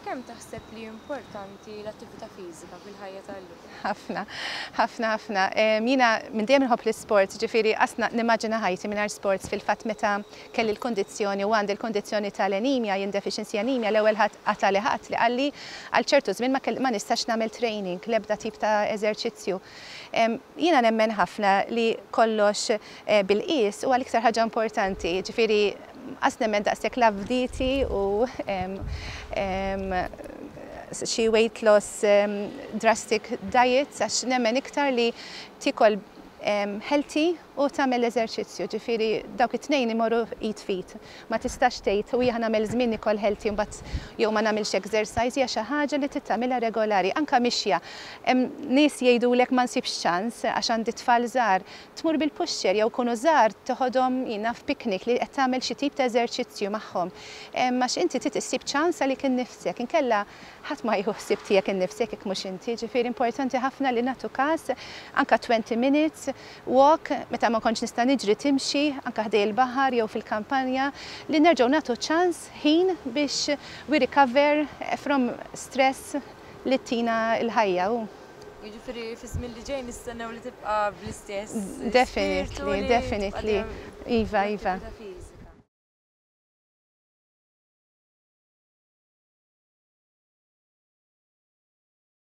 Kemm taħseb li importanti l-attività fiżika fil-ħajja tal-lum? Ħafna, ħafna, ħafna. Jiena minn dejjem nħobb l-isport, ġifieri qasna nimmaġina ħajti mingħajr sports fil-fatt meta kelli l-kundizzjoni u għandi l-kundizzjoni tal-anemia, jien deficiency anemia, l-ewwel ħadd qatagħli ħadd li qalli għal ċertu żmien ma ma nistax nagħmel training, l-ebda tip ta' eżerċizzju. Jiena nemmen ħafna li kollox bil-qies huwa l-iktar ħaġa importanti, ġifieri As nemmen daqshekk l-avditi u xi weight loss drastic diets għax nemmen iktar li tiekol healthy u tagħmel eżerċizzju, ġifieri dawk it-tnejn imorru id f'id. Ma tistax tgħid u jiena nagħmel żmien nikol healthy u mbagħad jew ma nagħmilx exercise, hija xi ħaġa li trid tagħmilha regolari, anke mixja. Hemm nies jgħidulek ma nsibx ċans għax għandi t-tfal żgħar, tmur bil-puxxer jew ikunu żgħar teħodhom jien naf picnic li qed tagħmel xi tip ta' eżerċizzju magħhom. Għax inti trid issib ċans għalik innifsek, inkella ħadd ma jieħu ħsieb tiegħek innifsek jekk mhux inti. Jiġifieri importanti ħafna li nagħtu każ anke twenty minutes walk meta ma nkontx nista' niġri timxi anke ħdej il-baħar jew fil-kampanja li nerġgħu nagħtu ċans ħin biex we recover from stress li ttina l-ħajja u Jiġifieri fiż-żmien li ġej nistennew li tibqa' bl-istess spirtu. Definitely, definitely. Iva, iva.